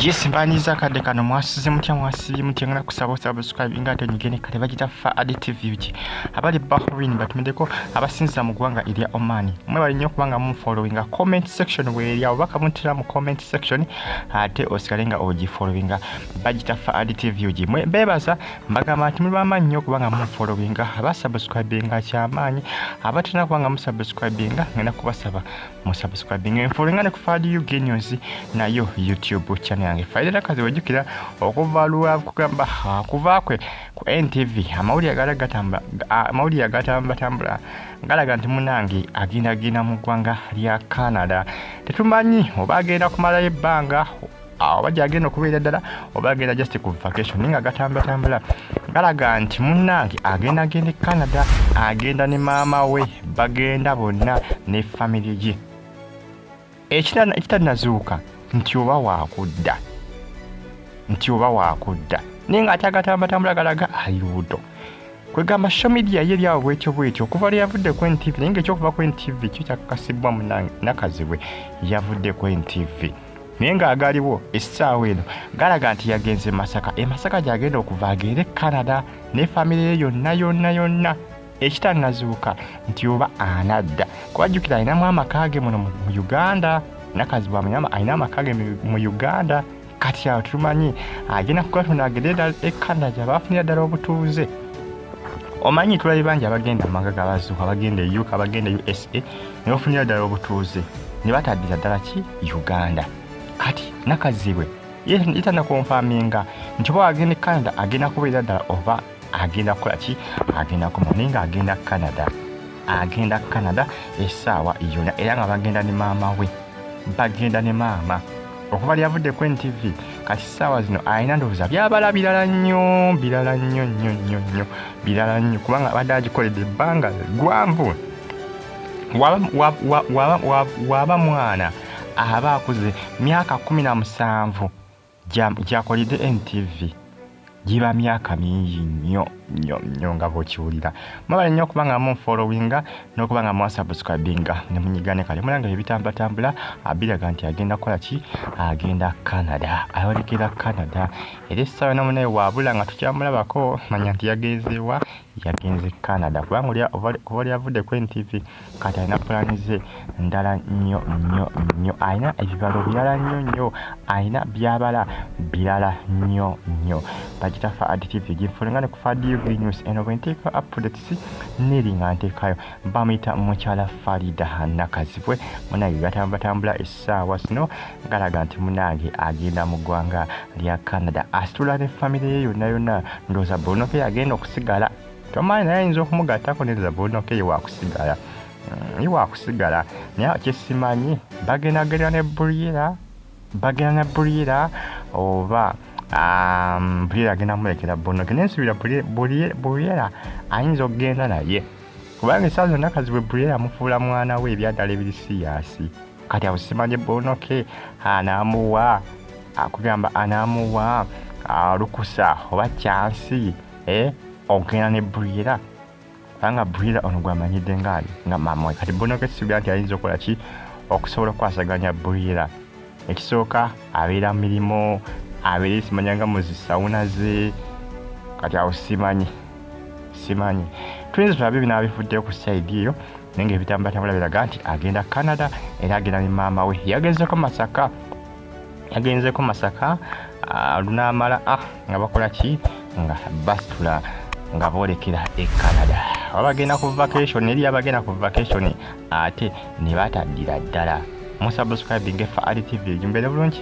yes banyiza kadde kano mwasize mutya mwasibye mutya ngana kusaba subscribe nga ate nyigene kale bagita fa adi tv uki abali bahrain batumideko abasinza mu gwanga ilya oman mwe bali nyo kubanga mu following a comment section where ya obaka mutira mu comment section ate osikalenga oji following bagitaffa adtvugi mwe beebaza mbagamba nti muli bamaanyi nnyo kubanga mufolowinga aba subscribinga kyamaanyi abatalina kubanga musubscribinga ngenda kubasaba musubscribinga enfolowinga ne ku fadi ug news nayo youtube channel yange faidera kazi wejjukira okuva lwa kugamba kuva kwe ku ntv amawulire agala gatambula amawulire agatambulatambula galaga nti munange agendagenda mu ggwanga lya canada tetumanyi oba agenda kumalayo ebbanga awo oba gyagenda okubeera ddala oba agenda just ku vacation naye nga gatambulatambula galaga nti munnange agenda agenda e canada agenda ne maama we bagenda bonna ne famire ye ekitanazuuka nti oba wakudda nti oba wakudda naye nga ate agatambulatambula galaga ali lubuto kwegamba shomidia ye byawo bwetyo bwetyo okuva lwe yavudde ku ntv naye ngaekyokuva ku ntv kyo kyakakasibbwa munange nakazibwe yavudde ku ntv naye ng'agaliwo essaawa eno galaga nti yagenze masaka e masaka gy'agenda okuva agende canada ne famire ye yonna yonna yonna ekitanazuuka nti oba anadda kubajjukira alinamu amaka ge muno mu uganda nakazibu alina amaka ge mu uganda kati awo tumanyi agenda kugatunda agende ddala e canada gyabafunira ddala obutuuze omanyi tulabye bangi abagenda amaka gabazuuka bagenda e uk abagenda e usa ne bafunira ddala obutuuze ne bataddiza ddala ki uganda kati nakazibwe yetana konfaminga nti oba agenda e canada agenda kubeera ddala oba agenda kukola ki agenda koma naye nga agenda canada agenda canada esaawa yona era nga bagenda ne maama we bagenda ne maama okuva lyavudde ku ntv kati saawa zino alina ndowooza byabala birala nnyo birala nnyo nnyo nnyo nnyo birala nnyo kubanga abadde agikoledde ebbanga gwanvu waba mwana aba akuze myaka kumi na musanvu gyakolede ntv giba myaka mingi nnyo nnyo nnyo nga bwokiwulira mwebale nnyo okuba nga munfolowinga n'okuba nga mwasubscribinga ne munyiga ne kale mulanga ebitambatambula abiraga nti agenda kukola ki agenda canada ayolekera canada era essaawa nomunaye wabula nga tukyamulabako manya nti yagenzeewa yagenze Canada kubanga oli kuba oli avudde ku NTV kati alina pulaani ze ndala nnyo nnyo nnyo alina ebibalo birala nnyo nnyo alina byabala birala nnyo nnyo bagitafa adtv ginfulunga ne ku fadiug news eno bwe nteeka updates neri nga nteekayo bamuyita mukyala farida nakazibwe munaye batambulatambula essaawa zino galaga nti munange agenda mu ggwanga lya canada asitula ne famire ye yonna yonna ndooza bonoke agenda okusigala tomanyi naye ayinza okumugattako neza bonoke ye wakusigala mm, ye wakusigala naye kyesimanyi bagendagerera ne buriera bagenda na bulira oba um, bulira agenda mulekera bonoke naye nsubira bulira ayinza okugenda naye kubanga esaa zonna kazibwe bulira amufuula mwana we ebyaddala ebiri siyaasi kati awo simanye bonoke anaamuwa akugamba anaamuwa lukusa oba kyansi eh, okugenda ne bulira kubanga bwira ono gwamanyidde ngaali nga mamwe kati bonoka ekisuubira nti ayinza okukola ki okusobola okukwasaganya bwira ekisooka abeera mirimu abeera esimanya nga muzi sawuna ze kati awo simanyi simanyi tuyinza tulabe bina bifudde ku saidi eyo naye nga ebitambulatambula biraga nti agenda canada era agenda ne maama we yagezeko masaka agenzeko masaka lunaamala a ah, nga bakola ki nga basitula nga boolekera e canada abagenda ku vacation eri abagenda ku vacation ate ne bataddira ddala musubscribinge fa ali tv ejumbere bulungi